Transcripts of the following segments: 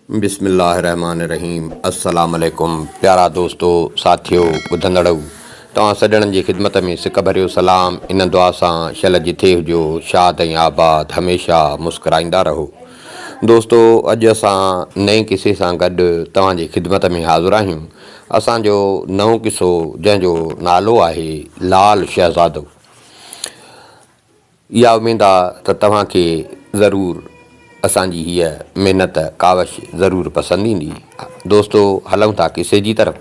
بسم الله الرحمٰن الرحيم السلام عليڪم پيارا دوستو ساٿيو ٻڌندڙؤ توهان سڄڻن جي خدمت ۾ سڪ ڀريو سلام ان دعا سان شل جٿي هجو شاد ۽ آباد هميشه مسڪرائيندا رهو دوستو اڄ اسان نئين قصي سان گڏ توهان جي خدمت ۾ حاضر آهيون اسان جو نئون قصو جنهن جو نالو آهي لال شهزادو اها اميد آ ته توهان کي ضرور اسان جي هيء محنت ڪاوش ضرور پسند ايندي. دوستو هلون ٿا قصي جي طرف.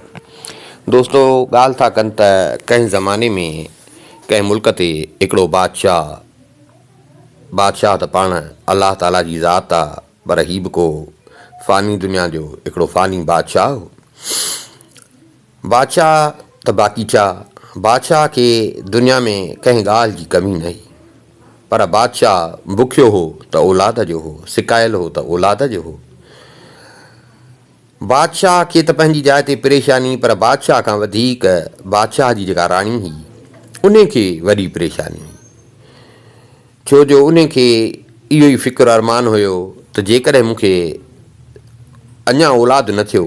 دوستو ڳالهه ٿا ڪن ته ڪنهن زماني ۾ ڪنهن ملڪ تي هڪڙو بادشاهه، بادشاهه ته پاڻ الله تعاليٰ جي ذات آ پر هي به ڪو فاني دنيا جو هڪڙو فاني بادشاهه هو. بادشاهه ته باقيچا، بادشاهه کي دنيا ۾ ڪنهن ڳالهه جي ڪمي نه هئي، پر بادشاهه بکيو هو ته اولاد جو هو، سڪايل هو ته اولاد جو هو. بادشاهه کي ته پنهنجي جاء تي پريشاني، پر بادشاهه کان وڌيڪ بادشاهه جي جيڪا راڻي هئي، انهي کي وڏي پريشاني هئي. ڇو جو انهن کي اهو ئي فڪر ارمان هيو ته جيڪڏهن مون کي اڃا اولاد نه ٿيو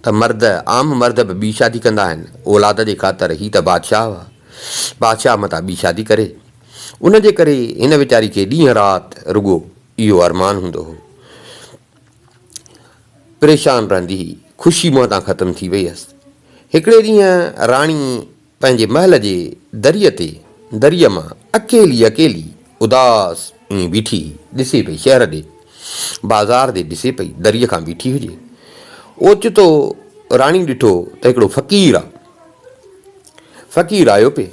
ته مرد، عام مرد به ٻي شادي ڪندا آهن، اولاد جي خاطر هي ته بادشاهه هئا، بادشاهه متان ٻي شادي ڪري. ان جي ڪري هن ويچاري کي ڏينهن رات رڳو اهو ارمان هوندو هو. پريشان رهندي هئي. خوشي منهن تان ختم ٿي وئي هيس. هڪڙي ڏينهن راڻي. پنهنجي محل جي دريء تي دريء مان اڪيلي اڪيلي اداس ائين بيٺي ڏسي پئي شهر ڏي بازار ڏي ڏسي پئي دريء کان بيٺي هجي اوچتو راڻي ڏٺو ته هڪڙو فقير آ فقير آيو پئي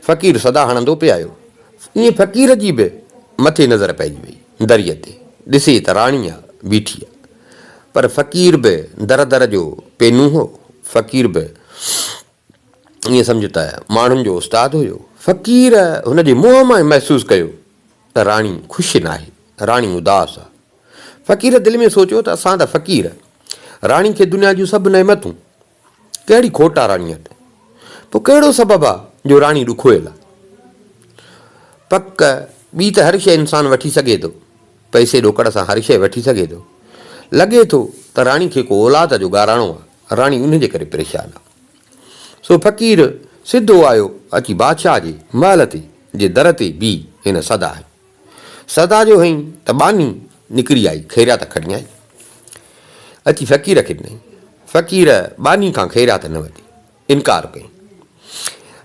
فقير صدا هڻندو پئي آيو ائين فقير جي به مٿي نظر پئجي وئي دريء تي ڏسي ته راڻي آ بيٺي آ پر فقير به در در جو پينون هو. فقير به ائين سمجهه ته ماڻهن جو استاد هيو. فقير هن جي منهن مان ئي محسوس ڪيو ته راڻي خوش ناهي. راڻي اداس آ. فقير دل ۾ سوچيو ته اسان ته فقير. راڻي کي دنيا جون سڀ نعمتون. ڪهڙي کوٽ آ راڻيء وٽ؟ پوء ڪهڙو سبب آ جو راڻي ڏکويل آ؟ پڪ، ٻي ته هر شيء انسان وٺي سگهي ٿو. پئسي ڏوڪڙ سان هر شيء وٺي سگهي ٿو. لڳي ٿو ته راڻي کي ڪو اولاد جو گاراڻو آ. راڻي انهيء جي ڪري پريشان آ. سو فقير سڌو آيو اچي بادشاهه جي محل تي جي در تي بيهي هن سدا هنيو. سدا جو هئين ته ٻانهي نڪري آئي خيرات کڻيائين. اچي فقير کي ڏنائين. فقير ٻانهي کان خيرات نه ورتي. انڪار ڪيائين.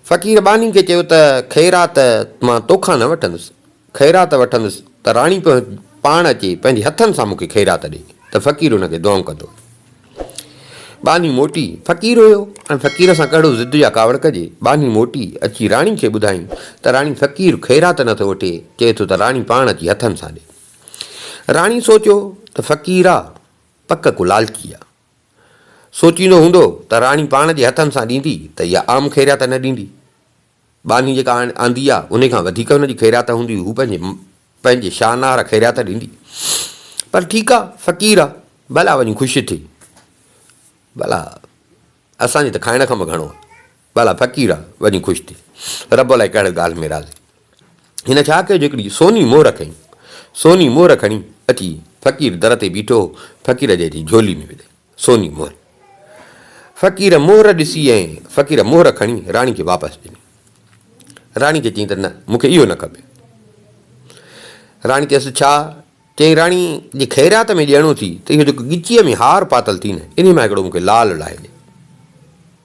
فقير ٻانهي کي چيو ته خيرات مان توکان نه وٺندس. خيرات وٺندس ته راڻي پاڻ اچي پنهنجي هٿن سان مون کي خيرات ڏي ته فقير ان کي دعائون ڪندو. ٻانهي موٽي فقير هيو ۽ فقير سان ڪهڙو ضد يا ڪاوڙ ڪجي. ٻانهي موٽي اچي راڻي کي ٻڌائين ته راڻي فقير خيرات نه ٿو وٺي، چئي ٿو ته راڻي پاڻ اچي هٿن سان ڏي. راڻي سوچيو ته فقير آ پڪ ڪو لالچي آ. سوچيندو هوندو ته راڻي پاڻ جي هٿن سان ڏيندي ته اها عام خيرات نه ڏيندي. ٻانهي جيڪا آندي آ، انهي کان وڌيڪ هن جي خيرات هوندي، هو پنهنجي پنهنجي شانار خيرات ڏيندي. پر ٺيڪ آ، فقير آ، ڀلا وڃي خوش ٿئي. ڀلا اسان جي ته کائڻ کان به گهڻو آ. ڀلا فقير آ، وڃي خوش ٿئي. رب الائي ڪهڙي ڳالهه ۾ راضي. هن ڇا ڪيو جو هڪڙي سوني مهر کنئي. سوني مهر کڻي اچي فقير در تي بيٺو هو، فقير جي جي جهولي ۾ وڌي. سوني مهر فقير مهر ڏسي ۽ فقير مهر کڻي راڻي کي واپس ڏني. راڻي کي چيائين ته نه مون کي اهو نه کپي. راڻي چيس ڇا؟ چيائين راڻي جي خيرات ۾ ڏيڻو ٿي ته اهو جيڪو ڳچيء ۾ هار پاتل ٿي نه انهي مان هڪڙو مون کي لال لاهي ڏي.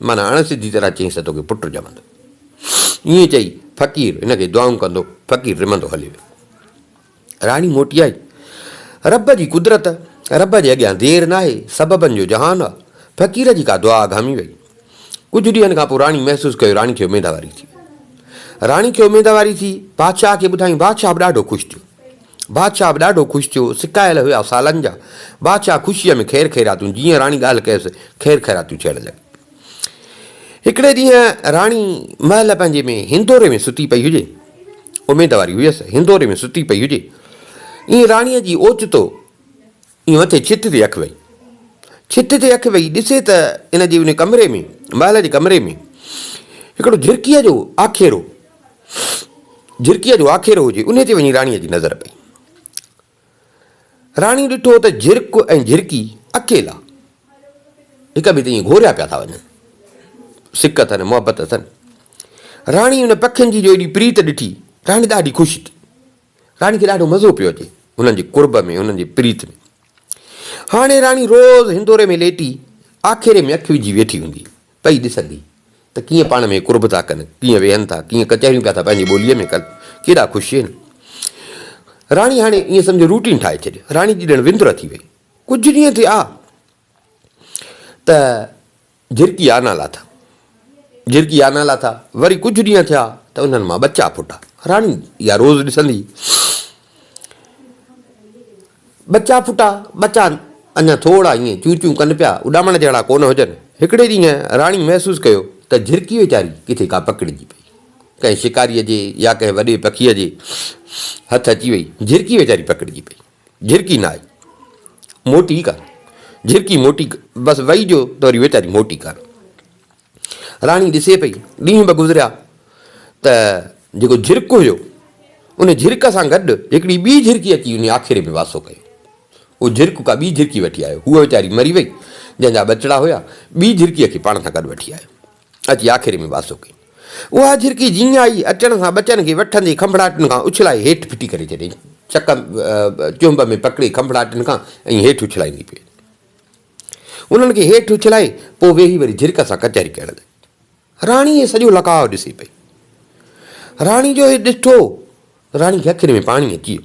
معنيٰ اڻ سڌي طرح چيس ته توکي پٽ ڄمندو. ائين چئي فقير هن کي دعائون ڪندو فقير رمندو هلي ويو. راڻي موٽي آئي. رب جي قدرت، رب جي اڳيان دير ناهي، سببن جو جهان آ. فقير جي ڪا دعا اگهامي وئي. ڪجهه ڏينهن کان پوء راڻي محسوس ڪيو راڻي کي اميدواري ٿي وئي. راڻي کي اميدواري ٿي، بادشاهه کي ٻڌايائين، بادشاهه به ڏاڍو خوش ٿيو. بادشاهه به ڏاڍو خوش ٿيو، سڪايل هيا سالن جا، بادشاهه خوشيء ۾ خير خيراتون، جيئن راڻي ڳالهه ڪيس، خير خيراتون ٿيڻ لڳيون. هڪڙي ڏينهن راڻي محل پنهنجي ۾ هندوري ۾ ستي پئي هجي، اميدواري هيس، هندوري ۾ ستي پئي هجي، ائين راڻيء جي اوچتو ائين مٿي ڇت تي اک وئي. ڇت تي اک وئي ڏسي ته ان جي ان ڪمري ۾ محل جي ڪمري ۾ هڪڙو جهرڪيء جو آکيرو جهرڪيء جو آکيرو هجي انهي تي وڃي راڻيء جي نظر پئي. راڻي ڏٺو ته جهرڪ ۽ جهرڪي اڪيلا هڪ ٻئي تي ائين گهوريا پيا ٿا وڃن. سڪ اٿن محبت اٿن. راڻي ان پکين جي جو ايڏي پريت ڏٺي راڻي ڏاڍي خوش ٿي. راڻي کي ڏاڍو مزو پيو اچي هنن جي قرب ۾ هنن جي پريت ۾. هاڻي راڻي روز هندوري ۾ ليٽي آکيري ۾ اک وجهي ويٺي هوندي پئي ڏسندي ته ڪيئن پاڻ ۾ قرب ٿا ڪن، ڪيئن ويهن ٿا، ڪيئن ڪچهريون پيا ٿا پنهنجي ٻوليء ۾ ڪن، ڪيڏا خوش هين. راڻي هاڻي ائين سمجهه روٽين ٺاهي ڇڏي. راڻي جي ڄڻ وندر ٿي وئي. ڪجهه ڏينهن ٿيا. ته جهرڪي آنا لاٿا. جهرڪي آنا لاٿا، وري ڪجهه ڏينهن ٿيا ته انهن مان ٻچا ڦٽا. راڻي اها روز ڏسندي. ٻچا ڦٽا، ٻچا اڃا ٿورڙا ائين چون چون ڪن پيا، اڏامڻ جهڙا ڪونه هجن. هڪڙي ڏينهن راڻي محسوس ڪيو ته جهرڪي ويچاري ڪٿي ڪا پڪڙجي پئي. ڪنهن شڪاريء جي يا ڪنهن وڏي پکيء جي هٿ اچي وئي. جهرڪي ويچاري پڪڙجي پئي. جھرڪي نه آئي موٽي ڪا، جھرڪي موٽي ڪا، بس وئي جو ته وري ويچاري موٽي ڪا. راڻي ڏسي پئي، ڏينهن ٻه گذريا ته جيڪو جھرڪ هيو، ان جھرڪ سان گڏ هڪڙي ٻي جھرڪي اچي انهيء آکيري ۾ واسو ڪيو. اهو جھرڪ ڪا ٻي جھرڪي وٺي آيو. هوء ويچاري مري وئي، جنهن جا ٻچڙا هيا، ٻي جھرڪيء کي پاڻ سان گڏ وٺي آيو. اچي آکيري ۾ ٻاسو ڪيائين. اها جهرڪي جيئن آئي، اچڻ سان ٻچن کي وٺندي کنڀڙاٽن کان اڇلائي هيٺ ڦٽي ڪري ڇڏيائين. چڪ چنب ۾ پڪڙي کنڀڙاٽن کان ائين هيٺ اڇلائيندي پئي. انهن کي هيٺ اڇلائي پوء ويهي وري جهرڪ سان ڪچهري ڪرڻ لڳي. راڻي هي سڄو لقاء ڏسي پئي. راڻي جو هي ڏٺو، راڻي کي اکين ۾ پاڻي اچي ويو.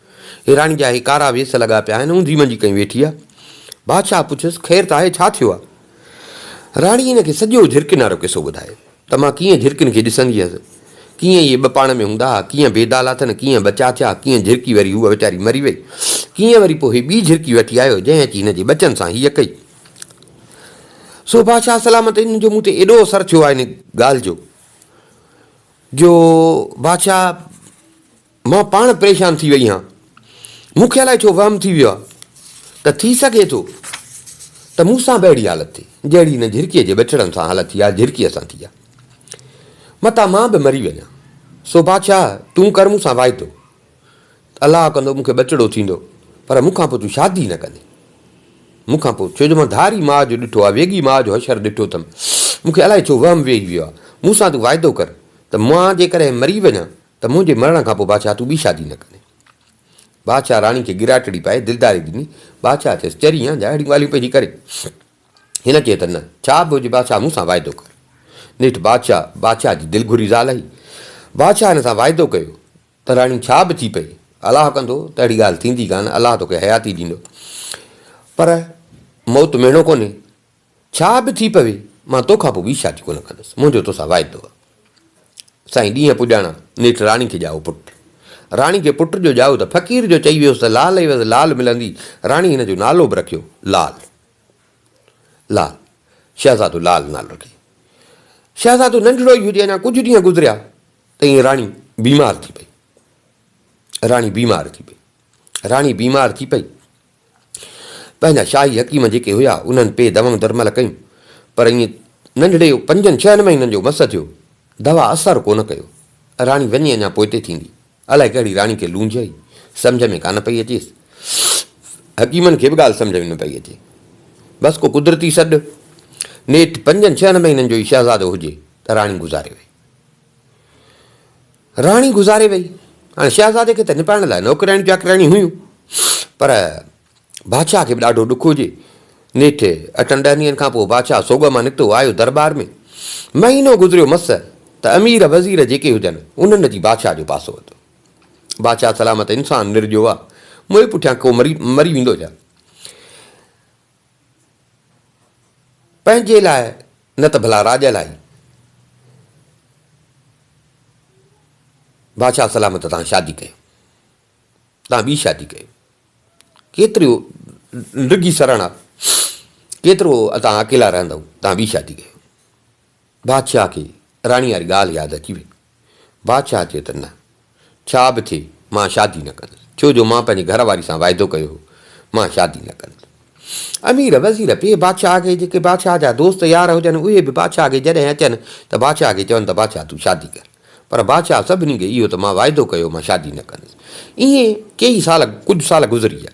هيراڻي جا هي ڪارا ويس لڳا پيا آهن، اونڌي منجي ڪئين ويٺي آ. بادشاهه پڇيس، خير ته آهي، ڇا ٿيو آ؟ راڻي هن کي سڄو جهرڪين وارو قصو ٻڌايو ته مان ڪيئن جهرڪين کي ڏسندي هيس، ڪيئن اهي ٻه پاڻ ۾ هوندا ها، ڪيئن بيدا لاٿن، ڪيئن ٻچا ٿيا، ڪيئن جهرڪي وري هوء ويچاري مري وئي، ڪيئن وري پوء هي ٻي جهرڪي وٺي آيو، جنهن اچي هن جي ٻچن سان هيء ڪئي. سو بادشاهه سلامت هن جو مون تي ايڏو اثر ٿيو آ ان ڳالهه جو، جو بادشاهه. مان پاڻ پريشان ٿي وئي هان. مون کي الائي ڇو وهم ٿي ويو آ ته ٿي سگهي ٿو ته مون سان به اهڙي حالت ٿئي جهڙي هن جهرڪيء جي ٻچڙن سان حالت ٿي آ جهرڪيء سان ٿي آ. متان مان به مري وڃان. سو بادشاهه تون ڪر مون سان واعدو ته الله ڪندو مون کي ٻچڙو ٿيندو پر مون کان پوء تون شادي نه ڪندين مون کان پوء ڇو جو مان ڌاري ماء جو ڏٺو آ ويڳي ماء جو حشر ڏٺو اٿم. مون کي الائي ڇو وهم ويهي ويو آ. مون سان تون واعدو ڪر ته مان جيڪڏهن مري وڃان ته منهنجي مرڻ کان پوء بادشاهه تون ٻي شادي نه ڪندين. بادشاهه راڻي کي ڳراٽڙي پائي دلداري ڏني. بادشاهه چيس، چري آن جا اهڙيون ڳالهيون پئجي ڪرين. هن چيو ته نه، ڇا به هجي بادشاهه مون سان واعدو ڪر. نيٺ بادشاهه بادشاهه جي دل گهري زال هئي. بادشاهه هن سان واعدو ڪيو ته راڻي ڇا به ٿي پئي، الله ڪندو ته اهڙي ڳالهه ٿيندي ڪانه، الله توکي حياتي ڏيندو. پر موت مهڻو ڪونهي، ڇا به ٿي پوي، مان تو کان پوء ٻي شادي ڪونه ڪندس، منهنجو توسان واعدو آ. سائين ڏينهن پڄاڻا، نيٺ راڻي کي ڄائو پٽ. راڻي کي پٽ جو ڄائو ته فقير جو چئي ويس ته لال عيوض لال ملندي، راڻي هن جو نالو به رکيو لال. لال. شهزادو لال نالو رکي. شهزادو ننڍڙو ئي هجي، اڃا ڪجهه ڏينهن گذريا ته ايئن راڻي بيمار ٿي پئي. راڻي بيمار ٿي پئي. راڻي بيمار ٿي پئي. پنهنجا شاهي حڪيم جيڪي هيا، انهن پي دوائون درمل ڪيون، پر ائين ننڍڙي پنجن ڇهن مهينن جو مس ٿيو، دوا اثر ڪو نه ڪيو. راڻي وڃي اڃا پوئتي ٿيندي، الائي ڪهڙي راڻي کي لونجهه هئي، سمجهه ۾ ڪانه پئي اچيس. حڪيمن کي به ڳالهه سمجهه ۾ نه پئي اچي. بس ڪو قدرتي سڏ، نيٺ پنجن ڇهن مهينن جو ئي شهزادو هجي ته راڻي گذاري وئي. راڻي گذاري وئي. هاڻي شهزادي کي ته نپائڻ لاء نوڪرياڻيون چاڪرياڻيون هيون، پر بادشاهه کي به ڏاڍو ڏک هجي. نيٺ اٺن ڏهن ڏينهن کانپوء بادشاهه سوڳ مان نڪتو آيو درٻار ۾. مهينو گذريو مس ته امير وزير جيڪي هجن، انهن اچي بادشاهه جو پاسو وتو. بادشاهه سلامت انسان نرجو آ، موئي پٺيان ڪو مري ويندو ڇا؟ پنهنجي لاء نه ته ڀلا راڄ لاء. بادشاهه سلامت تان شادي ڪيو. تان ٻي شادي ڪيو. ڪيتريون ڊگهي سرهڻا. ڪيترو تان اڪيلا رهندؤ. تان ٻي شادي ڪيو. بادشاهه کي راڻي واري ڳالهه ياد اچي وئي. بادشاهه چيو ته نه، ڇا به ٿئي مان شادي نه ڪندس، ڇو جو مان پنهنجي گهر واري سان واعدو ڪيو هو، مان شادي نه ڪندس. امير، وزير، پيء بادشاهه کي، جيڪي بادشاهه جا دوست يار هجن، اهي به بادشاهه کي جڏهن اچن ته بادشاهه کي چون ته بادشاهه تون شادي ڪر. پر بادشاهه سڀني کي اهو ته مان واعدو ڪيو هو، مان شادي نه ڪندس. ائين ڪيئي سال، ڪجهه سال گذري ويا.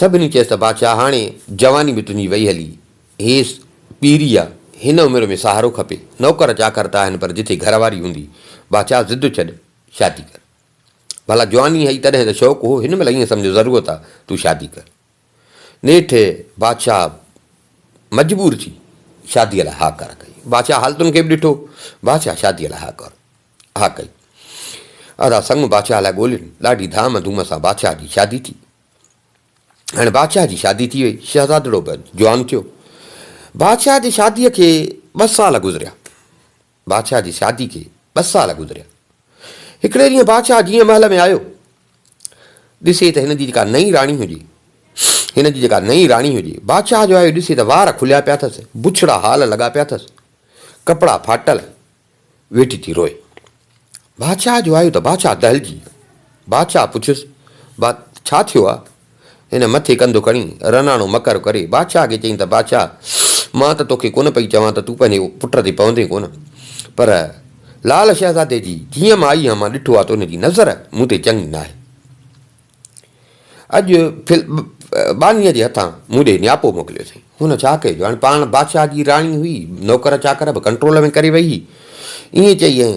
سڀني چيس ته بادشاهه هاڻي جواني به تنهنجي وئي هلي، هيس پيري آ، هن عمر ۾ سهارو کپي، نوڪر چاڪر ته آهن پر جتي گهر واري هوندي، بادشاهه ضد ڇڏ شادي ڪر. ڀلا جواني هئي تڏهن ته شوق هو، هن مهل ائين سمجهه ضرورت آ، تون شادي ڪر. نيٺ بادشاهه مجبور ٿي شاديء لاء ها ڪر ڪئي. بادشاهه حالتن کي به ڏٺو، بادشاهه شاديء لاء ها ڪر ها ڪئي. ادا سڱ بادشاهه لاء ڳولين، ڏاڍي ڌام ڌوم سان بادشاهه جي شادي ٿي. هاڻي بادشاهه جي شادي ٿي وئي. شهزادڙو به جوان ٿيو. بادشاهه جي شاديء کي ٻه سال گذريا. بادشاهه جي شادي کي ٻه سال گذريا. هڪڙي ڏينهن بادشاهه جيئن محل ۾ آيو، ڏسي ته هن جي جيڪا نئين راڻي هجي، هن جي جيڪا نئين راڻي هجي، بادشاهه جو آيو ڏسي ته وار کليا پيا اٿس، بڇڙا هال لڳا پيا اٿس، ڪپڙا ڦاٽل، ويٺي ٿي روئي. بادشاهه جو آيو ته بادشاهه دهلجي. بادشاهه پڇيس، با ڇا ٿيو آ؟ هن مٿي ڪنڌ کڻي رناڻو مڪر ڪري بادشاهه کي چيائين ته بادشاهه مان ته توکي ڪونه پئي چوان ته تون پنهنجي پٽ تي پوندين ڪونه پر لال شهزادي جي جيئن مان آئي هان مان ڏٺو آ ته ان جي نظر مون تي چڱي ناهي. اڄ ڦل ٻانهيء جي هٿان مون ڏي نياپو موڪليو اٿئي. هن ڇا ڪيو جو هاڻي پاڻ بادشاهه جي راڻي هئي، نوڪر چاڪر به ڪنٽرول ۾ ڪري ويهي. ائين چئي ۽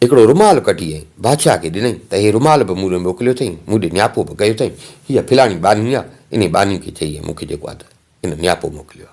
هڪڙو رومال ڪڍي ۽ بادشاهه کي ڏنئي ته هي رومال به مون ڏي موڪليو اٿئي، مون ڏي نياپو به ڪيو اٿئي، هيء ڦلاڻي ٻانهي آ، انهيء ٻانهي کي چئي ۽ مون کي جيڪو آ ته هن نياپو موڪليو آ.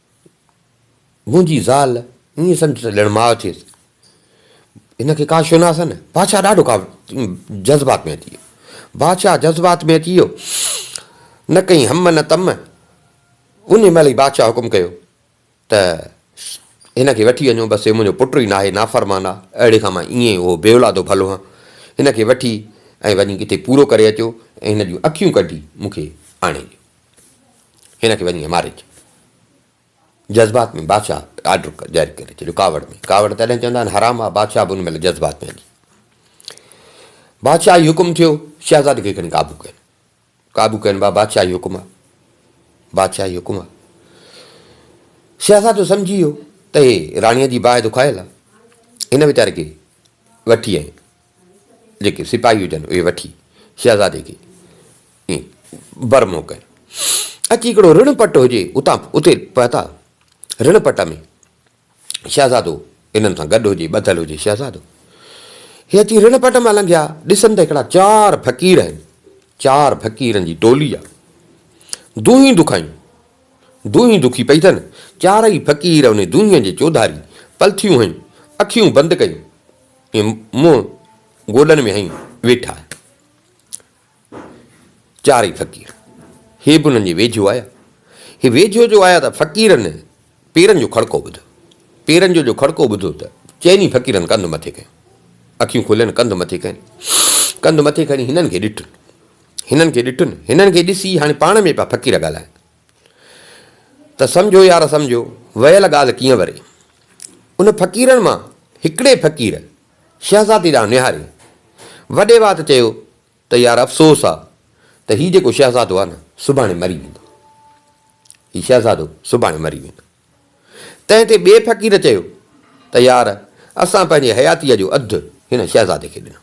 منهنجي زال ائين سمجهه ته ڄڻ ماء ٿيس، هن کي ڪا شناس نه. بادشاهه ڏاڍو ڪا جذبات ۾ اچي ويو. بادشاهه جذبات ۾ اچي ويو. نه ڪئين هم نه تم. ان مهل ئي بادشاهه حڪم ڪيو ته هن کي وٺي وڃو، بس هي منهنجو پٽ ئي ناهي، نافرمان آ، اهڙي کان مان ائين اهو بي اولادو ڀلو هان. هن کي وٺي ۽ وڃي ڪٿي پورو ڪري اچو ۽ هن جون اکيون ڪڍي مون کي آڻي ڏيو. هن کي وڃي مارج. جذبات ۾ بادشاهه آرڊر جاري ڪري ڇڏيو ڪاوڙ ۾ ڪاوڙ تڏهن چوندا آهن حرام آ بادشاهه به ان مهل جذبات ۾ هلي بادشاهي حڪم ٿيو شهزادي کي کڻي قابو ڪين قابو ڪين با بادشاهي حڪم آ بادشاهي حڪم آ شهزادو سمجھي ويو ته هي راڻيء جي باهه دکايل آ هن ويچاري کي وٺي آئي جيڪي سپاهي هجن اهي وٺي شهزادي کي ائين بر منهن ڪيو. اچي هڪڙو رڻ پٽ هجي اتان اتي پهتا. رڻ پٽ ۾ شهزادو هنن سان گڏ هجي، ٻڌل هجي شهزادو. هي اچي رڻ پٽ مان لنگهيا، ڏسن ته هڪڙا چار فقير آهن. چار فقيرن جي ٽولي آ. دونهين دکايون. دونهين دکي پئي اٿن. چارئي فقير ان دونهين جي چوڌاري پلٿيون هنيون، اکيون بند ڪيون. منهن گوڏن ۾ هنئي ويٺا آهن. چارئي فقير هي به انهن جي ويجهو آيا. هي ويجهو جو آيا ته فقيرن پيرن جو کڙڪو ٻڌو. پيرن جو جو کڙڪو ٻڌو ته چئني فقيرن ڪنڌ مٿي ڪيو. اکيون کولين ڪنڌ مٿي ڪين. ڪنڌ مٿي کڻي هنن کي ڏٺن. هنن کي ڏٺن. هنن کي ڏسي هاڻي پاڻ ۾ پيا فقير ڳالهائين. ته سمجهو يار سمجهو، ويل ڳالهه ڪيئن وري. ان فقيرن مان هڪڙي فقير شهزادي ڏانهن نهاري، وڏي وات چيو ته يار افسوس آ ته هي جيڪو شهزادو آ نه سڀاڻي مري ويندو. هي شهزادو سڀاڻي مري ويندو. تنهن تي ٻئي فقير چيو ته يار اسان پنهنجي حياتيء جو اڌ هن شهزادي کي ڏنو.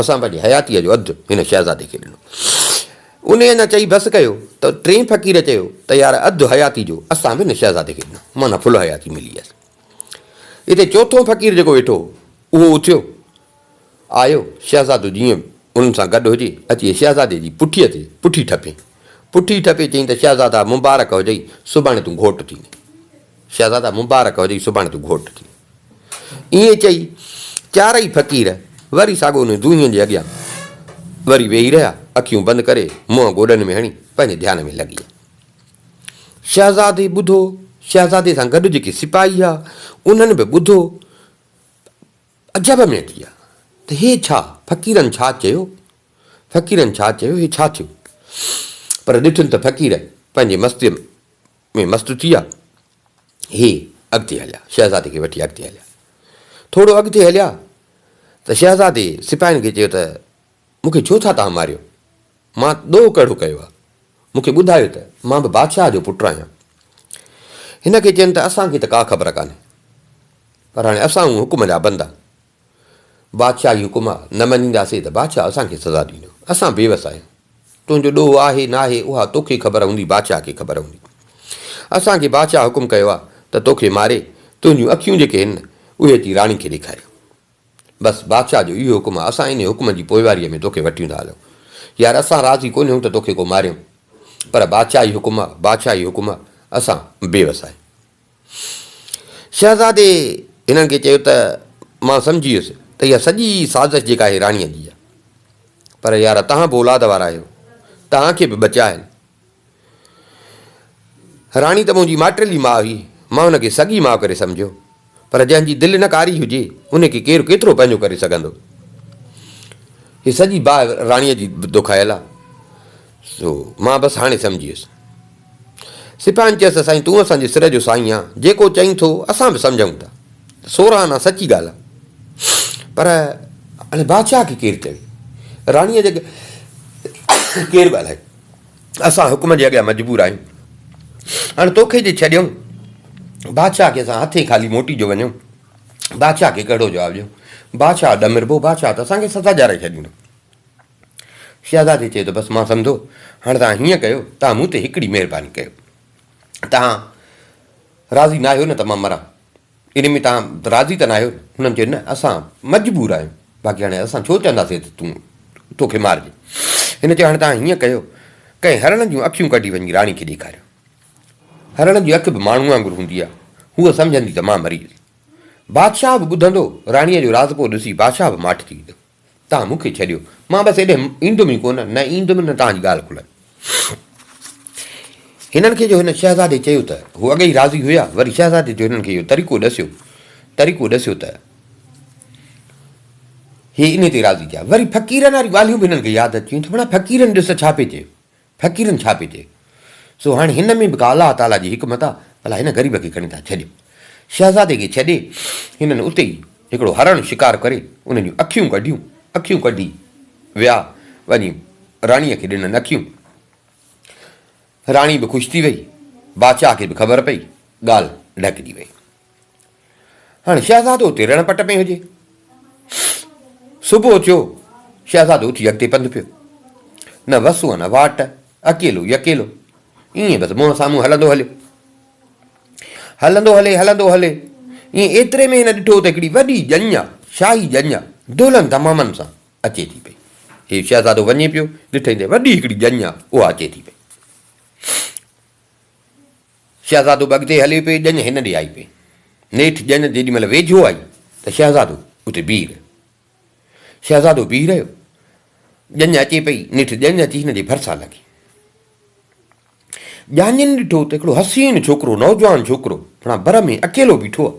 اسان پنهنجي حياتيء جو اڌ هن شهزادي کي ڏنو. انهيء اڃا چئي بس ڪيو ته ٽئين فقير چيو ته يار اڌ حياتي جو اسان به هن شهزادي کي ڏنو معنيٰ ڦل حياتي ملي هيس. اتي چوٿون فقير جيڪو ويٺو هو اهو اٿيو آيو شهزادو جيئن به انهن سان گڏ هجي اچي شهزادي جي پٺيء تي پٺي ٺپين. پٺي ٺپي چيائين ته شهزادا مبارڪ هجئي سڀاڻي تون گهوٽ ٿيندين. شهزادا مبارڪ هجئي سڀاڻي تون گهوٽ ٿي. ائين چئي چارئي فقير وري ساڳو انهن دونهين جي اڳيان وري ويهي رهيا. اکيون بند ڪري منهن گوڏن ۾ هڻي پنهنجي ڌيان ۾ لڳي ويا. شهزادي ٻڌو، شهزادي سان گڏ جيڪي سپاهي هئا انهن به ٻڌو عجب ۾ اچي ويا ته هي ڇا؟ فقيرن ڇا چيو؟ فقيرن ڇا چيو؟ هي ڇا ٿيو؟ پر ڏٺن ته فقير پنهنجي مستيء ۾. ۾ مست ٿي ويا. هي اڳتي هليا، شهزادي کي وٺي اڳتي هليا. ٿورو اڳتي هليا ته شهزادي سپاهين کي چيو ته مون کي ڇو ٿا توهان ماريو؟ مان ڏوهه ڪهڙو ڪيو آهي؟ مون کي ٻڌايو ته مان به بادشاهه جو پٽ آهيان. هن کي چين ته اسان کي ته ڪا خبر ڪانهي، پر هاڻي اسان هون حڪم جا بندا، بادشاهه جي حڪم نه مڃينداسين ته بادشاهه اسان کي سزا ڏيندو. اسان بيوس آهيون. تنهنجو ڏوهه آهي ناهي اها توکي خبر هوندي بادشاهه کي خبر هوندي. اسان کي بادشاهه حڪم ڪيو آهي ته توکي ماري تنهنجون اکيون جيڪي هن اهي اچي راڻي کي ڏيکاري. بس بادشاهه جو اهو حڪم آهي اسان انهي حڪم جي پوئواريء ۾ توکي وٺيون ٿا هلون. يار اسان راضي ڪونهيون ته توکي ڪو ماريون پر بادشاهه جي حڪم آهي بادشاهه جي حڪم آهي اسان بيوس آهيون. شهزادي هنن کي چيو ته مان سمجهي ويس ته اها سڄي سازش جيڪا آهي راڻيء جي آهي پر يار توهان به اولاد وارا آهيو توهان کي به ٻچا آهن. راڻي ته منهنجي ماٽيلي ماء هئي مان هن کي سڳي ماء ڪري سمجهيو پر جنهن جي دل نه ڪاري هجي ان کي ڪير ڪيترو پنهنجو ڪري سگهندو. هي سڄي باهه راڻيء جي دکايل آهي سو مان بس هاڻي سمجهي ويس. سپاهين چيس ته سائين تون اسان جي سر جو سائين آن، جيڪو چئين ٿو اسان به سمجهون ٿا ته سورهه آنا سچي ڳالهه آ. پر هاڻي بادشاهه کي ڪير چوي؟ راڻيء جي اڳيان ڪير ڳالهائي؟ اسان حڪم جي اڳيان مجبور آهيون. هاڻي توکي جي ڇڏيون بادشاهه کي اسان هٿين خالي موٽي جو وڃون، بادشاهه کي ڪهڙو جواب ڏيون؟ بادشاهه ڏمربو، بادشاهه ته اسان کي سزا ڏيارائي ڇڏيندو. شهزادي چيو ته بس مان سمڌو، هاڻي توهان هيئن ڪيو، توهان مون تي هڪڙي مهرباني ڪيو، توهان راضي ناهيو نه ته مان مران، ان ۾ توهان راضي ته ناهيو؟ هنن چيو نه اسان مجبور آهيون، باقي هاڻي اسان ڇو چونداسين ته تون تو کي مارجي؟ هن چيو هاڻي توهان هيئن ڪيو، ڪنهن هرڻ جون اکيون ڪڍي وڃي راڻي کي ڏيکاريو، هرڻ جي اک به ماڻهو وانگر هوندي آهي، هوء سمجهندي ته مان مري ويس. بادشاهه به ٻڌندو، راڻيء جو راضپو ڏسي بادشاهه به ماٺ ٿي ويندو. توهان مون کي ڇڏيو، مان بس ايڏي ايندم ئي ڪونه، نه ايندم نه توهان جي ڳالهه کلندي. هنن کي جو هن شهزادي چيو ته هو اڳي ئي راضي هيا، وري شهزادي جو هنن کي اهو طريقو ڏسيو، طريقو ڏسيو ته هي انهي تي راضي ٿيا. وري فقيرن واريون ڳالهيون به هنن کي ياد اچيون ته ڀلا فقيرن ڏس ڇا پئي چيو، فقيرن ڇا پئي چئي؟ سو هاڻي هن ۾ به ڪا الله تعاليٰ جي حڪمت آ، ڀلا هن غريب کي کڻي ٿا ڇڏين. شهزادي کي ڇڏي، هنن اتي ئي هڪڙو هرڻ شڪار ڪري، ان جون اکيون ڪڍيون، اکيون ڪڍي ويا، وڃي راڻيء کي ڏنن اکيون. راڻي به خوش ٿي وئي، بادشاهه کي به خبر پئي، ڳالهه ڍڪجي وئي. هاڻي شهزادو اتي رڻ پٽ ۾ هجي. صبح ٿيو، شهزادو اٿي اڳتي پنڌ پيو. نه وسون نه واٽ، اڪيلو ئي اڪيلو. ائين بس منهن سامهون هلندو هليو. هلندو هلي هلندو هلي ائين ايتري ۾ هن ڏٺو ته هڪڙي وڏي ڄڃ آ، شاهي ڄڃ آ، دولن دمامن سان اچي ٿي پئي. هي شهزادو وڃي پيو، ڏٺئي ته وڏي هڪڙي ڄڃ آ، اها اچي ٿي پئي. شهزادو به اڳتي هلي پئي، ڄڃ هن ڏي آئي پئي. نيٺ ڄڃ جيڏي مهل ويجهو آئي ته شهزادو اتي بيهي رهيو. شهزادو بيهي رهيو، ڄڃ اچي پئي، نيٺ ڄڃ اچي هن جي ڀرسان لڳي. ڄاڃين ڏٺو ته هڪڙو حسين ڇوڪرو، نوجوان ڇوڪرو، پڻا بر ۾ اڪيلو بيٺو آهي.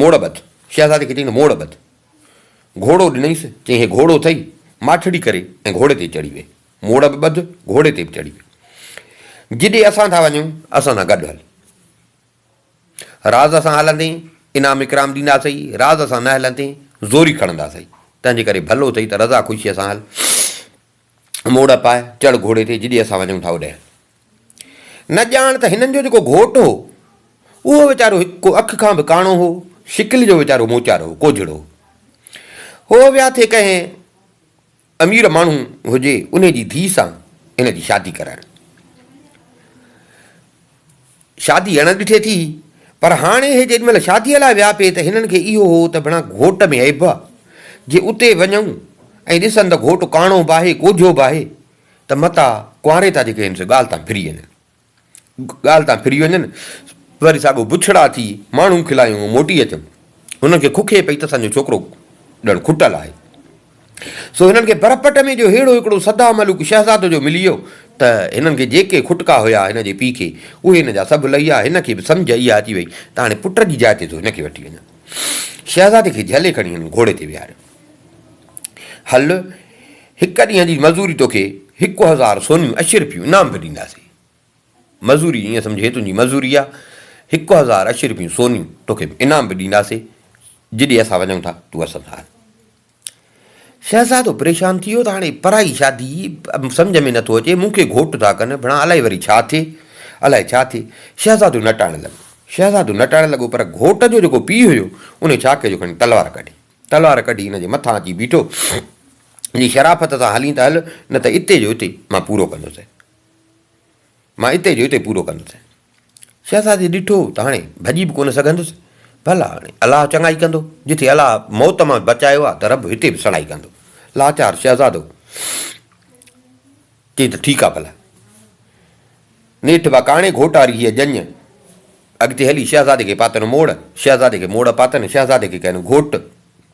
موڙ ٻڌ، شهزادي کي چيائين ته موڙ ٻڌ. گهوڙو ڏنائينس، چيائين هي گهوڙو اٿئي، ماٺڙي ڪري ۽ گهوڙي تي چڙهي ويهه. موڙ به ٻڌ، گهوڙي تي به چڙهي ويهه. جيڏي اسان ٿا وڃون، اسان سان گڏ هل. راز سان هلندين، انعام اڪرام ڏينداسئي، راز سان نه هلندين، زوري کڻنداسئي. تنهنجي ڪري ڀلو اٿئي ته رضا خوشيء سان هل. موڙ پاء، چڙ گهوڙي تي، جيڏي اسان وڃون ٿا اوڏي. نه ڄاڻ ته هنن جو جيڪو گهوٽ هو، اهو ويچارو هڪ ڪو اک کان به ڪاڻو هو، شڪل جو ويچارو موچار هو، ڪوجهڙو هو. هو ويا ٿي ڪنهن امير ماڻهو هجي، انهي جي ڌيء سان هن جي شادي ڪرائڻ. شادي اڻ ڏٺي ٿي پر هاڻي اهي جيڏي مهل شاديء لاء ويا پي ته هنن کي اهو هو ته ڀڻا گهوٽ ۾ عيب آ جي اتي وڃون ۽ ڏسن ته گهوٽ ڪاڻو به آهي ڪوجهو به آهي ته متان ڪنواري تان جيڪي آهن سي ڳالهه تان ڦري وڃن ڳالهه تان ڦري وڃن وري ساڳو بڇڙا ٿي ماڻهو کلايون موٽي اچن هنن کي ککي پئي ته اسان جو ڇوڪرو ڄڻ کٽل آهي. سو هنن کي برپٽ ۾ جو ههڙو هڪڙو سدا ملوڪ شهزادو جو ملي ويو ته هنن کي جيڪي کٽڪا هيا هن جي پيء کي، اهي هن جا سڀ لهي ويا. هن کي به سمجهه اها اچي ويئي ته هاڻي پٽ جي جاء تي ٿو هن کي وٺي وڃان. شهزادي کي جهلي کڻي هنن گهوڙي تي ويهاريو. هل، هڪ ڏينهن جي مزوري توکي هڪ هزار سونيون اشرفيون انعام به ڏينداسين. مزوري، ائين سمجهه هي تنهنجي مزوري آ. هڪ هزار اشرفيون سونيون توکي انعام به ڏينداسين. جيڏي اسان وڃون ٿا، تون اسان سان هل. شهزادو پريشان ٿي ويو ته هاڻي پرائي شادي سمجهه ۾ نٿو اچي، مون کي گهوٽ ٿا ڪن، ڀڻا الائي وري ڇا ٿئي، الائي ڇا ٿئي. شهزادو نٽاڻ لڳو. شهزادو نٽاڻ لڳو پر گهوٽ جو جيڪو پيء هيو، انهي ڇا ڪيو جو کڻي تلوار ڪڍي. تلوار ڪڍي هن جي مٿان اچي بيٺو. جي شرافت سان هلين ته هل، نه ته اتي جو اتي مان پورو ڪندوسين. مان اتي جو اتي پورو ڪندوسين. شهزادي ڏٺو ته هاڻي ڀڄي به ڪونه سگهندس، ڀلا هاڻي الله چڱائي ڪندو، جٿي الله موت مان بچايو آهي ته رب هتي به سڻائي ڪندو. لاچار شهزادو چيائين ته ٺيڪ آهي ڀلا. نيٺ با ڪاڻي گهوٽاري هيء ڄڃ اڳتي هلي شهزادي کي پاتن موڙ، شهزادي کي موڙ پاتن، شهزادي کي ڪين گهوٽ.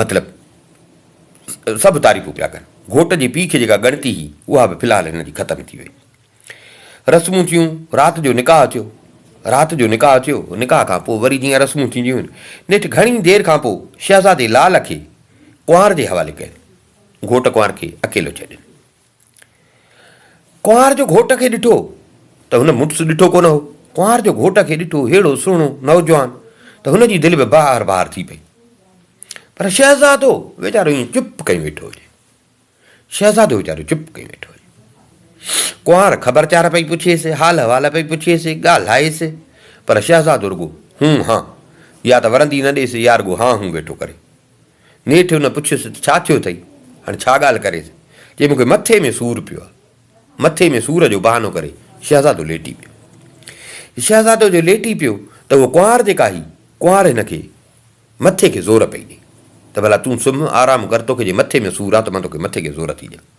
مطلب سڀ تعريفون پيا ڪن. گهوٽ جي پيء کي جيڪا ڳڻتي هئي، اها به في الحال هن جي ختم ٿي وئي. رسمون ٿيون، رات جو نڪاح ٿيو. رات جو نڪاح ٿيو، نڪاح کان پوء وري جيئن رسمون ٿينديون آهن، نيٺ گهڻي دير کان پوء شهزادي لال کي ڪنوار جي حوالي ڪين. گهوٽ ڪنوار کي اڪيلو ڇڏين. ڪنوار جو گهوٽ کي ڏٺو ته هن مڙس ڏٺو ڪونه هو. ڪنوار جو گهوٽ کي ڏٺو ههڙو سهڻو نوجوان ته هن جي دل به بهار بهار ٿي پئي. پر شهزادو ويچارو ائين چپ ڪئين ويٺو هجي. شهزادو ويچارو چپ ڪئين ويٺو هجي. ڪنوار خبر چار پئي پڇيس، حال احوال پئي پڇيس، ڳالهائيس، پر شهزادو رڳو هون هان يا ته ورندي نه ڏيس يا رڳو هان هون ويٺو ڪري. نيٺ هن پڇيس ته ڇا ٿيو اٿئي؟ هاڻي ڇا ڳالهه ڪريس؟ چيائين مون کي مٿي ۾ سور پيو آهي. مٿي ۾ سور جو بهانو ڪري شهزادو ليٽي پيو. شهزادو جو ليٽي پيو ته هوء ڪنوار جيڪا هئي، ڪنوار هن کي مٿي کي زور پئي ڏئي ته ڀلا تون سمهه، آرام ڪر، توکي جي مٿي ۾ سور آهي ته مان توکي مٿي کي زور ٿي ڏيان.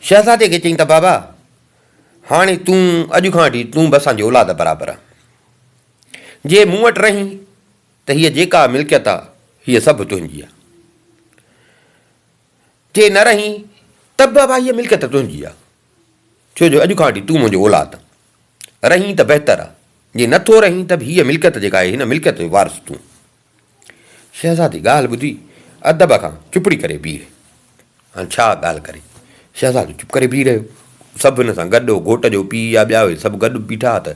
شهزادي کي چيائين ته بابا، هاڻي تون اڄ کان وٺي تون به اسان جي اولاد برابر آهين. جي مون وٽ رهين ته هيء جيڪا ملڪيت آهي، هيء سڀ تنهنجي آهي. جي نه رهين ته به بابا هيء ملڪيت تنهنجي آهي، ڇو جو اڄ کان وٺي تون منهنجو اولاد آهين. رهين ته بهتر آهي، جي نٿو رهين ته به هيء ملڪيت جيڪا آهي، هن ملڪيت جو وارث تون آهين. شهزادي ڳالهه ٻڌي ادب کان چپڙي ڪري بيهي رهي. هاڻ ڇا ڳالهه ڪري؟ شهزادو چپ ڪري بيهي رهيو. سڀ هن سان گڏ هو، گهوٽ جو پيء يا ٻيا اهي سڀ گڏ بيٺا ها ته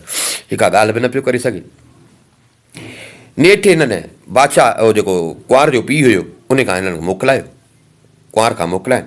هي ڪا ڳالهه به نه پيو ڪري سگهي. نيٺ هنن بادشاهه اهو جيڪو ڪنوار جو پيء هيو، ان کان هنن موڪلايو. ڪنوار کان موڪلائين.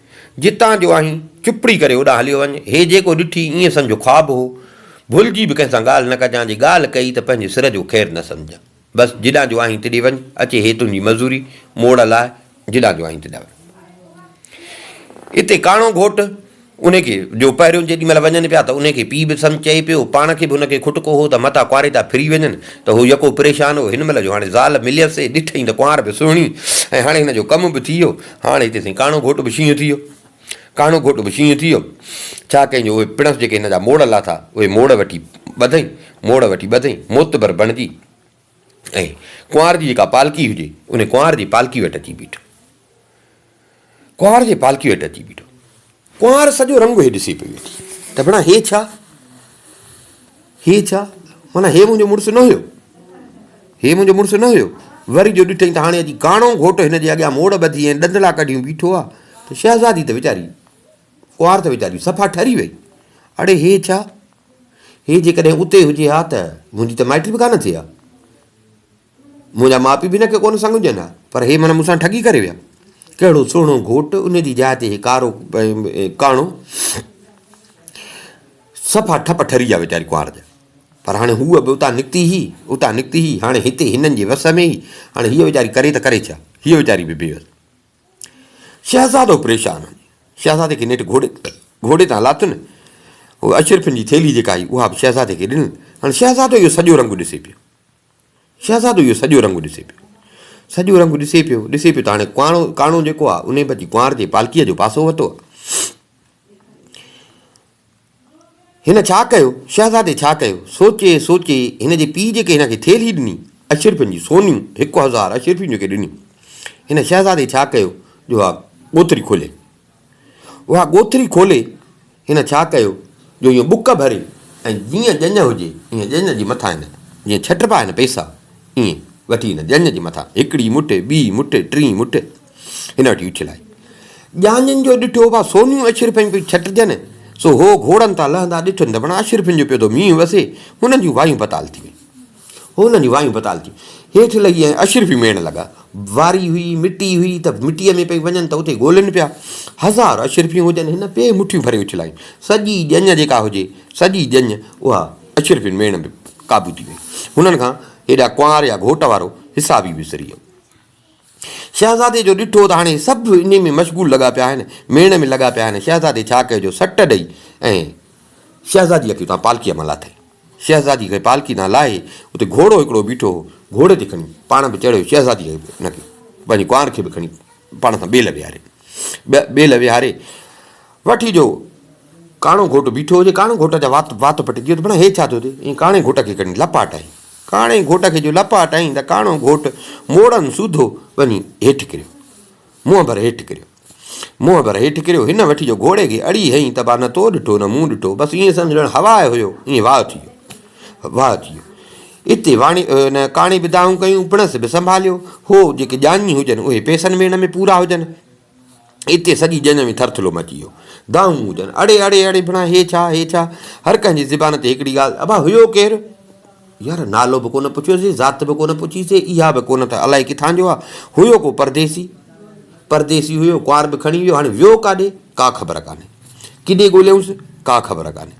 جتان جو آهين، چپڙي ڪري هوڏانهن هليو وڃ. هي جيڪو ڏٺي، ائين سمجهه خواب هو. ڀلجي به ڪنهن سان ڳالهه نه ڪجان، جي ڳالهه ڪئي ته پنهنجي سر جو خير نه سمجهان. بس، جيڏانهن جو آهين تيڏي وڃ. اچي هي تنهنجي مزوري، موڙ لاء، جيڏانهن جو آهين تيڏانهن وڃ. اتي ڪاڻو گهوٽ، انهي کي، جو پهريون جيڏي مهل وڃن پيا ته انهي کي پيء به سمجهه چئي پيو. پاڻ کي به ان کي کٽڪو هو ته متان ڪنواريتا ڦري وڃن ته هو يڪو پريشان هو. هن مهل جو هاڻي زال مليس سي ڏٺئي ته ڪنوار به سهڻي ۽ هاڻي هن جو ڪم به ٿي ويو. هاڻ هتي سائين ڪاڻو گهوٽ به شينهن ٿي ويو. ڪاڻو گهوٽ به شينهن ٿي ويو. ڇا ڪيائين جو اهي پڻس جيڪي هن جا موڙ لاٿا، اهي موڙ وٺي ٻڌئي، موڙ وٺي ٻڌئي، معتبر بڻجي ۽ ڪنوار جي جيڪا پالڪي هجي، انهي ڪنوار جي پالڪي وٽ اچي بيٺو. ڪنوار جي پالڪي وٽ اچي بيٺو. ڪنوار سڄو رنگ هي ڏسي پئي ويٺي ته ڀيڻا هي ڇا؟ هي ڇا؟ معنيٰ هي منهنجو مڙس نه هيو. هي منهنجو مڙس نه هيو. وري جو ڏٺئين ته هاڻي اڄ ڪاڻو گهوٽ هن جي اڳيان موڙ ٻڌي ۽ ڏندڙا ڪڍيون بيٺو آ ته شهزادي ته ويچاري، ڪنوار ته ويچاري صفا ٺري وئي. اڙي هي ڇا؟ هي جيڪڏهن اتي هجي ها ته منهنجي ته مائٽي به ڪانه ٿئي ها. منهنجا ماء پيء به هن کي ڪونه سنگهجن ها، پر هي معنيٰ مون سان ٺڳي ڪري ويا. ڪهڙو سهڻو گهوٽ، ان جي جاء تي هي ڪارو ڪاڻو. صفا ٺپ ٺري ويا ويچاري ڪنوار جا. پر هاڻي هوء به اتان نڪتي هئي، اتان نڪتي هئي، هاڻي هتي هنن جي وس ۾ هئي. هاڻي هيء ويچاري ڪري ته ڪري ڇا؟ هيء ويچاري به بي وس. شهزادو پريشان هو. شهزادي کي نيٺ گهوڙي تان لاتن. هوء اشرفين جي ٿيلهي جيڪا هئي، اها به شهزادي کي ڏنل. هاڻي شهزادو اهو سڄو رنگ ڏسي پيو. شهزادو اهو سڄو رنگ ڏسي پيو. سڄو رنگ ڏسي پيو، ڏسي پيو ته هاڻي ڪاڻو ڪاڻو جيڪو آهي، انهي به اچي ڪنوار جي پالڪيء جو پاسو ورتو آهي. هن ڇا ڪيو؟ شهزادي ڇا ڪيو؟ سوچي سوچي هن جي پيء جيڪي هن کي ٿيلهي ڏني، اشرفين جي سونيون، هڪ هزار اشرفيون جيڪي ڏنيون، هن شهزادي ڇا ڪيو جو اها ڳوٿري کولي؟ اها ڳوٿري کولي هن ڇا ڪيو جو ايئن ٻڪ ڀري ۽ جيئن ڄڃ هجي ايئن ڄڃ جي مٿان هن جيئن ڇٽبا آهن پيسا ايئن وٺي هن ڄڃ جي مٿان هڪڙي مٺي ٻي مٺي ٽين مٺي هن وٺي اڇلائي ڄاڃن جو ڏٺو ڀا سونيون اشرفين پيون ڇٽجن سو هو گهوڙن تان لهندا ڏٺن ته بڻا اشرفين جو پيو ٿو مينهن وسي هنن جون وايون پتال ٿي ويون هو انهن جون وايون بتال ٿيون هيٺ لهي ۽ اشرفي ميڙڻ لڳا. واري هئي، مٽي هئي ته مٽيء ۾ پئي وڃن ته اتي ڳولين پيا. هزار اشرفيون هجن هن پي مٺيون ڀري اڇلايون. سڄي ڄڃ جيڪا هجي، سڄي ڄڃ اها اشرفين ميڙڻ ۾ قابو ٿي وئي. هنن کان هيڏا ڪنوار يا گهوٽ وارو حساب ئي وسري ويو. شهزادي جو ڏٺو ته هاڻي سڀ انهي ۾ مشغول لڳا پيا آهن، ميڙ ۾ لڳا پيا آهن، شهزادي ڇا ڪيو جو سٽ ڏئي ۽ شهزاديء کي اتان پالڪيء مان لاٿائين. شهزادي کي پالڪي تان لاهي اتي گهوڙو هڪڙو بيٺو هو، گهوڙي تي کڻي پاڻ به چڙهيو، شهزاديء کي به ان کي پنهنجي ڪنوار کي به کڻي پاڻ سان ٻيل ويهاري، ٻيل ويهاري وٺي جو ڪاڻو گهوٽ بيٺو هجي، ڪاڻي گهوٽ جا وات وات پٽي ڪيو ته ڀڻا هي ڇا ٿيو ٿي، ائين ڪاڻي گهوٽ کي کڻي لپاٽائين. ڪاڻي گهوٽ کي جو لپا ٽائين ته ڪاڻو گهوٽ موڙن سوڌو وڃي هيٺ ڪريو. منهن ڀر هيٺ ڪريو. منهن ڀر هيٺ ڪريو. هن وٺي جو گهوڙي کي اڙي هنئي ته با نه تو ڏٺو نه مون ڏٺو. بس ائين سمجهه ڄڻ هوا ۾ هيو. ائين واهه ٿي ويو. واهه ٿي ويو. اتي واڻي ان ڪاڻي به دانهون ڪيون، پڻس به سنڀاليو. هو جيڪي ڄاڃي هجن اهي پئسن ميڙ ۾ پورا هجن. اتي سڄي ڄڃ ۾ ٿرٿلو مچي ويو. دانهون هجن، اڙي اڙي اڙي ڀڻا هي ڇا؟ هي ڇا؟ هر ڪنهن جي زبان تي هڪڙي ڳالهه، ابا هيو ڪير؟ يار نالو به ڪونه پڇيوسي، ذات به ڪونه پڇي سي، اها به ڪونه ته الائي ڪٿان جو آ، هيو ڪو پرديسي. پرديسي هيو، ڪنوار به کڻي ويو، هاڻي ويو ڪاڏي؟ ڪا خبر ڪانهي. ڪيڏي ڳوليائونس؟ ڪا خبر ڪانهي.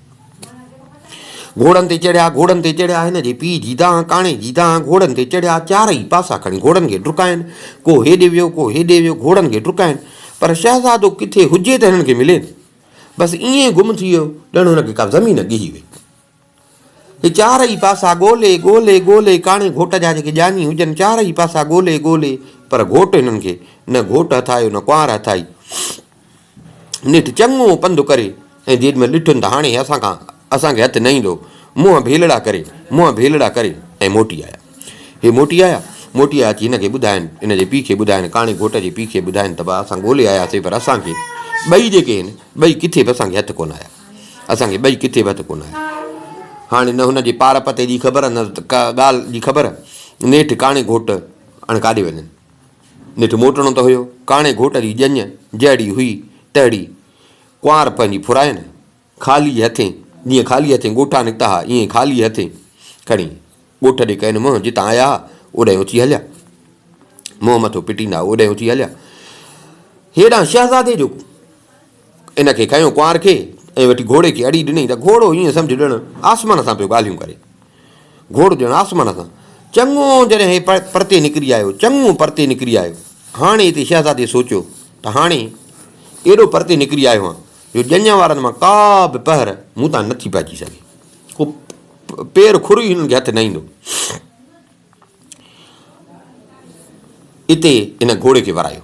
گهوڙن تي چڙهيا گهوڙن تي چڙهيا هن جي پيء جي دانهن ڪاڻي جي دانهن گهوڙن تي چڙهيا چارئي پاسا کڻي گهوڙن کي ڊڪائين ڪو هيڏي ويو ڪو هيڏي ويو گهوڙن کي ڊڪائين پر شهزادو ڪٿي هجي ته هنن کي ملي نه بس ائين گم ٿي ويو ڄڻ هن کي ڪا زمين ڳهي وئي هي چارئي پاسا ڳولي ڳولي ڳولي ڪاڻي گهوٽ جا جيڪي ڄاڃي هجن چارئي پاسا ڳولي ڳولي پر گهوٽ هنن کي نه گهوٽ هٿ آيو نه ڪنوار هٿ آئي نيٺ چڱو پنڌ ڪري ۽ جيڏمهل ڏٺن ته هاڻي اسان کان اسان کي هٿ نه ايندو، منهن ڀيلڙا ڪري منهن ڀيلڙا ڪري ۽ موٽي آيا. هي موٽي آيا، موٽي آيا اچي هن کي ٻڌاين، هن جي پيء کي ٻڌاين، ڪاڻي گهوٽ جي پيء کي ٻڌاين ته ڀاء اسان ڳولي آياسين پر اسان کي ٻئي جيڪي آهن ٻئي ڪٿي به اسان کي هٿ ڪونه آيا، اسان کي ٻئي ڪٿي به هٿ ڪونه آيا. هاڻي نه هن جي پار پتي جي خبر نه ڪا ڳالهه جي خبر، نيٺ ڪاڻي گهوٽ هاڻي ڪاڏي وڃن. نيٺ موٽڻو ته هيو. ڪاڻي گهوٽ جي ڄڃ جهڙي هئي تهڙي ڪنوار پنهنجي ڦراين خالي هٿين جيئن خالي هٿين ڳوٺان نڪتا ها ايئن ئي خالي هٿين کڻي ڳوٺ ڏي ڪين منهن جتان آيا ها اوڏانهن اٿي هليا. منهن مٿو پٽيندا اوڏانهن اٿي هليا. هيڏانهن شهزادي جو ان کي کنيو ڪنوار کي ۽ وٺي گهوڙي کي اڙي ڏني ته گهوڙو ائين سمجهه ڄڻ آسمان سان پيو ڳالهيون ڪري. گهوڙو ڄڻ آسمان سان چڱو جڏهن هي پرتي نڪري آيو، چڱو پرتي نڪري آيو. هاڻي هتي شهزادي سوچيو ته هاڻي ايڏو پرتي نڪري آيو هان جو ڄڃ وارن مان ڪا به پهر مون تان نٿي پئجي سگهي. ڪو پير کر ئي هنن کي هٿ نه ايندو. اتي هن گهوڙي کي ورايو.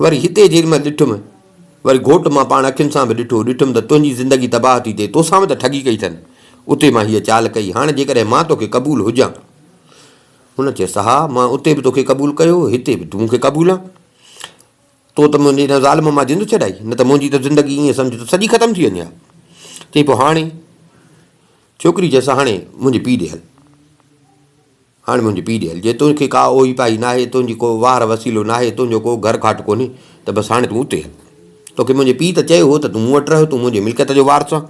وري هتي جيڏيمهل ڏٺم، وري گهوٽ مان پاڻ اکين سان به ڏٺو، ڏٺم ته تنهنجي زندگي تباهه ٿي ٿئي، توسان به ته ٺڳي ڪئي اٿن، اتي مان هيء چال ڪئي، هاڻ جيڪڏهن مان تو کي قبول هجان. هن چيس، ها، مان اتي به تو کي قبول ڪيو، هتي به تون مون کي قبول آن. تو ته منهنجي هن ظالم مان جند ڇڏائي، نه ته منهنجي ته زندگي ائين سمجهه ته سڄي ختم ٿي وڃي ها. چيائين، پوء هاڻي؟ ڇوڪري چيس، هاڻي منهنجي پيء ڏي هل. هاڻي منهنجي پيء ڏي هل، جي تون کي ڪا اوهي پاهي ناهي، تنهنجي ڪو واهر وسيلو ناهي، تنهنجو ڪو گهر کاٽ ڪونهي، ته بس هاڻي تون اتي هل. توکي منهنجي پيء ته چيو هو ته تون مون وٽ رهه، تون منهنجي ملڪيت جو وارث آن.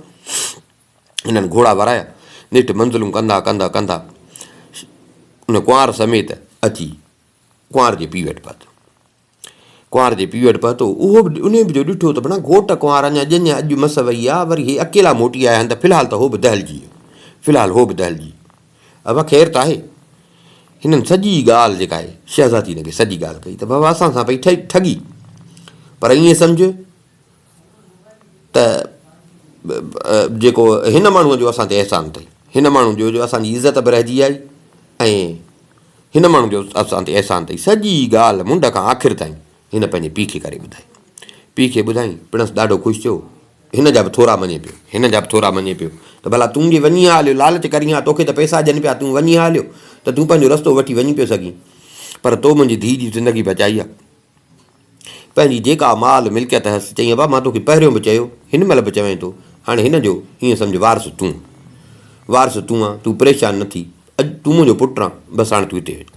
هنن گهوڙا ورايا. نيٺ منزلون ڪندا ڪندا ڪندا ان ڪنوار سميت اچي ڪنوار جي پيء وٽ پهتو. ڪنوار جي پيء وٽ پهتو. اهو به انهيء جو ڏٺو ته بنا گهوٽ ڪنوار اڃا ڄڃ اڄ مس وئي آ، وري هي اڪيلا موٽي آيا آهن ته في الحال ته هو به دهلجي ويو. في الحال هو به دهلجي ويو. ابا خير ته آهي؟ هنن سڄي ڳالهه جيڪا آهي، شهزادي هن کي سڄي ڳالهه ڪئي ته بابا اسان سان پئي ٺڳي. پر ائين سمجهه. ته جيڪو هن ماڻهوء جو اسان تي احسان اٿئي، هن ماڻهوء جو جو اسان جي عزت به رهجي آئي ۽ هن ماڻهوء جو اسان تي احسان اٿئي. سڄي ڳالهه منڍ کان آخر تائين هن پنهنجي پيء کي ڪري ٻڌائي. پيء کي ٻڌائين، پڻس ڏاڍو خوش ٿيو، هن جا به ٿورا مڃي پيو، هن جا به ٿورا مڃي پيو ته ڀلا تون جي وڃين ها هليو، لالچ ڪرين ها، توکي ته پئسا ڏين پيا، تون وڃين ها هليو ته تون پنهنجو رستو وٺي وڃي پيو سگهين، پر تو منهنجي ڌيء جي زندگي بچائي آ. پنهنجي جيڪا مال ملڪيت هيس، چيائين ابا مان توکي پهريون به چيو، هن مهل به چوين ٿو، هاڻي هن جو ائين سمجهه وارث تون. وارث تون آن، تون پريشان نه ٿي، اڄ تون منهنجو پٽ آن، بس هاڻي تون هتي هج.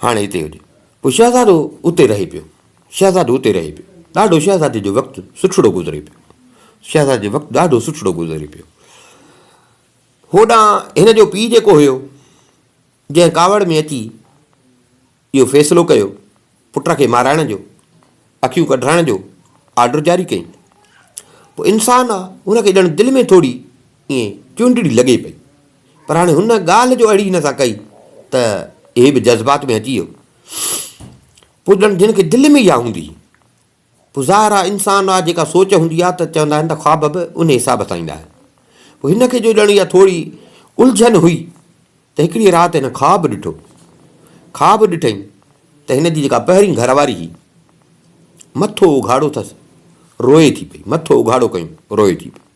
هاڻي هتي هج. پوء شهزادو اتي رهي پيو. شهزادو اتي رهي پيو. ڏاڍو شهزادي جو وقت سٺڙو گذري پيو. شهزادي جو وقت ڏاڍو سٺڙو گذري پيو. هوڏان هن جو پيء جيڪو هيو، جنهن ڪاوڙ ۾ اچي اهو فيصلو ڪيو، پٽ کي مارائڻ جو، اکيون ڪڍرائڻ جو آرڊر جاري ڪيائين. پوء انسان آ، هن کي ڄڻ دل ۾ ٿوري ائين چونڊڙي لڳي پئي. پر هاڻي هن ڳالهه جو اڙي هن سان ڪئي ته هي به جذبات ۾ اچي ويو. پوء ڄڻ جنهن کي دل ۾ اها هوندي. پوء ظاهر آهي انسان لاء جيڪا سوچ هوندي آهي ته چوندا آهن ته خواب به انهي حساب سان ايندا آهن. پوء هن کي جو ڄڻ اها ٿوري الجهن هئي ته هڪڙيء رات هن خواب ڏٺو. خواب ڏٺئين ته هن جي جيڪا پهرين گهر واري هئي مٿو اگهاڙو ٿس روئي ٿي پئي، مٿو اگهاڙو ڪيون روئي ٿي پئي.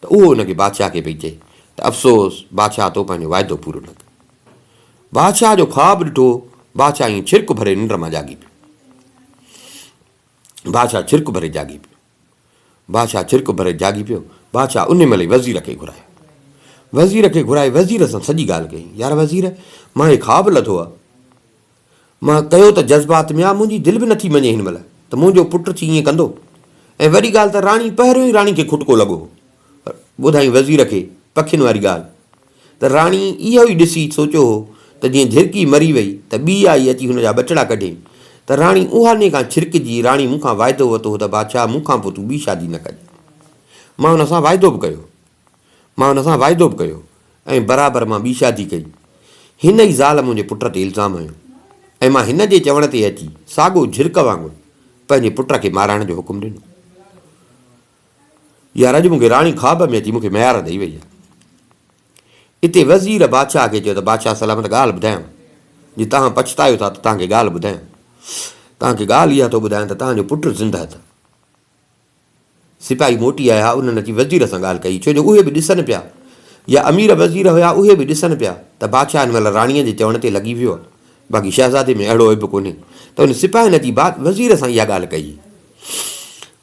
ته اهو ان کي بادشاهه کي پئي چئي ته افسوس بادشاهه تو پنهنجو واعدو پورو نه ڪيو. بادشاهه جو خواب ڏٺو، بادشاهه ائين ڇرڪ ڀري ننڊ مان جاڳي پيو. بادشاهه ڇرڪ ڀري جاڳي پيو. بادشاهه ڇرڪ ڀري جاڳي پيو. بادشاهه ان مهل ئي وزير کي گهرايو. وزير کي گهرائي وزير سان سڄي ڳالهه ڪئي، يار وزير مان هي خواب لڌو آ، مان ڪيو ته جذبات ميان منهنجي دل به نه ٿي مڃي هن مهل ته منهنجو پٽ ٿي ائين ڪندو ۽ وڏي ڳالهه ته راڻي پهريون ئي راڻي کي کٽڪو لڳو هو ٻڌائين وزير کي پکين واري ڳالهه ته راڻي اهو ئي ڏسي سوچيو هو ته جيئن جهرڪي مري وئي ته ٻي آئي اچي هن جا ٻچڙا ڪڍي ته راڻي اها ني کان ڇرڪجي راڻي مون کان واعدو وتو هو ته بادشاهه مون کان پوء تون ٻي شادي نه ڪجي مان هن سان واعدو به ڪيو هو مان هن سان واعدو به ڪيو ۽ برابر مان ٻي شادي ڪئي. هن ئي زال منهنجي پٽ تي الزام هنيو ۽ مان هن جي چوڻ تي اچي ساڳو جهرڪ وانگر پنهنجي پٽ کي مارائڻ جو حڪم ڏنو. يار اڄ مون کي راڻي خواب ۾ اچي مون کي ميار ڏئي وئي آهي. اتي وزير بادشاهه کي چيو ته بادشاهه سلامت ڳالهه ٻڌايانو. جي توهان پڇتايو ٿا ته توهان کي ڳالهه ٻڌايان. توهان کي ڳالهه اها ٿو ٻڌايان ته توهان جو پٽ زندهه اٿئي. سپاهي موٽي آيا، انهن اچي وزير سان ڳالهه ڪئي، ڇو جو اهي به ڏسن پيا، يا امير وزير هيا اهي به ڏسن پيا ته بادشاهه هن مهل راڻيء جي چوڻ تي لڳي ويو آهي، باقي شهزادي ۾ اهڙو عيب ڪونهي، ته انهن سپاهين اچي وزير سان اها ڳالهه ڪئي،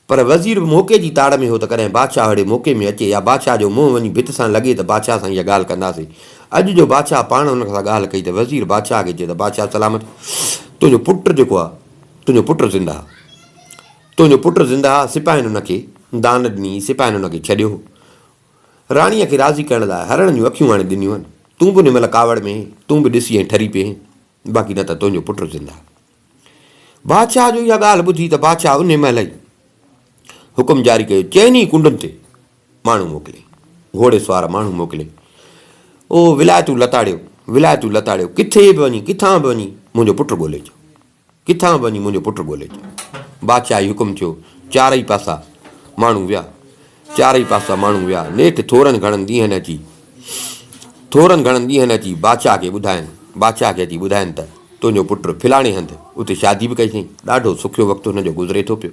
پر وزير به موقعي جي تاڙ ۾ هو ته ڪڏهن بادشاهه اهڙي موقعي ۾ اچي، يا بادشاهه جو منهن وڃي ڀت سان لڳي ته بادشاهه سان اها ڳالهه ڪنداسين، اڄ جو بادشاهه پاڻ انهن سان ڳالهه ڪئي ته وزير بادشاهه کي چيو ته بادشاهه سلامت، تنهنجو پٽ جيڪو آهي، تنهنجو پٽ زنده آهي. تنهنجو پٽ زندهه آ، سپاهين هن کي دان ڏني، سپاهين هن کي ڇڏيو هو. راڻيء کي راضي ڪرڻ لاء هرڻ جون اکيون آڻي ڏنيون هن. تون به ان مهل ڪاوڙ ۾ هين، تون به ڏسي ۽ ٺري پئي هين، باقي نه ته تنهنجو پٽ زندهه آ. بادشاهه جو اها ڳالهه ٻڌي ته بادشاهه انهيء مهل ئي حڪم جاري ڪيو، چئن ئي ڪنڊن تي ماڻهو موڪلي، گهوڙي سوار ماڻهو موڪلي، او ولائتون لتاڙيو، ولائتون لتاڙيو، ڪٿي به وڃي، ڪٿان به وڃي منهنجو پٽ ڳولي اچو. ڪٿان به وڃي منهنجو پٽ ڳولي اچ. بادشاهه جي حڪم ٿيو. چارئي پاسا ماڻهو ويا. چارئي پاسا ماڻهو ويا. نيٺ ٿورن گهڻن ڏينهن اچي ٿورن گهڻن ڏينهن اچي بادشاهه کي ٻڌاين بادشاهه کي اچي ٻڌاين ته تنهنجو پٽ فلاڻي هنڌ اتي شادي به ڪئي اٿئي. ڏاڍو سکيو وقت هن جو گذري ٿو پيو.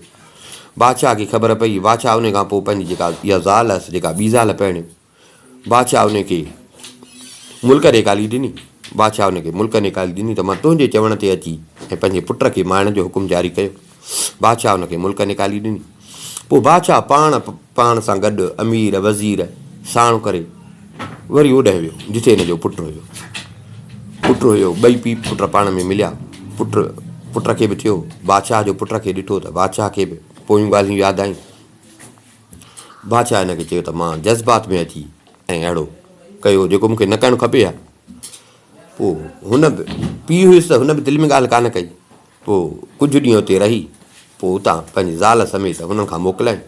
بادشاهه کي خبر پئي. بادشاهه ان کان پوء پنهنجي جيڪا اها زال هيس جيڪا ٻي زال پرڻيو. بادشاهه ان کي ملڪ نيڪالي ڏني. بادشاهه ان کي ملڪ نيڪالي ڏني ته مان تنهنجي چوڻ تي اچي ۽ پنهنجي پٽ کي مارڻ جو حڪم جاري ڪيو. بادشاهه ان کي ملڪ نيڪالي ڏني. پوء بادشاهه پاڻ پاڻ سان گڏ امير وزير ساڻ ڪري وري اوڏهه ويو جتي هن جو پٽ هيو. پٽ هيو ٻئي پيء پٽ پاڻ ۾ مليا. پٽ پٽ کي به ٿيو بادشاهه جو پٽ کي ڏٺو ته بادشاهه کي به پويون ڳالهيون ياد آيون. بادشاهه هن کي چيو ته مان جذبات ۾ اچي ۽ اهڙو ڪيو جيڪو مون کي نه ڪرڻ کپي ها. پوء هن به پيء هيس ته هن به دل ۾ ڳالهه ڪانه ڪئي. پوء ڪجهه ڏينهن اتي رهي پوء اتان پنهنجي زال سميت هنن کان موڪلائين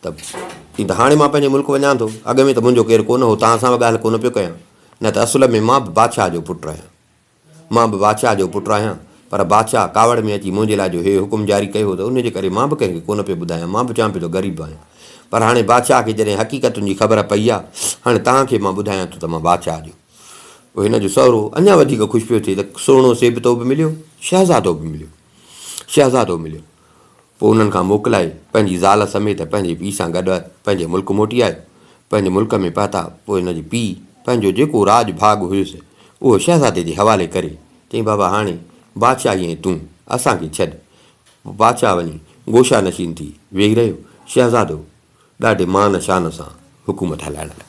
ته چيائين ته هاڻي مان پنهنجي ملڪ وڃان ٿو. اڳ ۾ ته منهنجو ڪير ڪونه هو، توهان سان به ڳالهه ڪونه پيو ڪيان، نه ته اصل ۾ مان به بادشاهه جو پٽ آهيان. مان به بادشاهه جو پٽ آهيان، پر بادشاهه ڪاوڙ ۾ اچي منهنجي لاء جو هي حڪم جاري ڪيو هو ته ان جي ڪري مان به ڪنهن کي ڪونه پيو ٻڌايان، مان به چوان پيو ته غريب آهيان. پر هاڻي بادشاهه کي جڏهن حقيقتن جي خبر پئي آهي، هاڻي توهان کي مان ٻڌايان ٿو ته مان بادشاهه جو. پوء هن جو سهرو اڃا وڌيڪ خوش پيو ٿئي ته سهڻو سيبتو به مليو، شهزادو به مليو. شهزادو مليو. پوء انهن کان موڪلائي پنهنجي زال سميت پنهنجي پيء سان گڏ پنهنجي ملڪ موٽي آيو. پنهنجي ملڪ ۾ پهتا پوء هن جي پيء پنهنجو جيڪو راڄ ڀاڳ هيس اهو شهزادي جي حوالي ڪري چيائين بابا هاڻي بادشاهي ۽ تون اسان کي ڇڏ. بادشاهه وڃي گوشا نشين ٿي ويهي رهيو. شهزادو ڏاڍي مان شان سان حڪومت هلائڻ لڳو.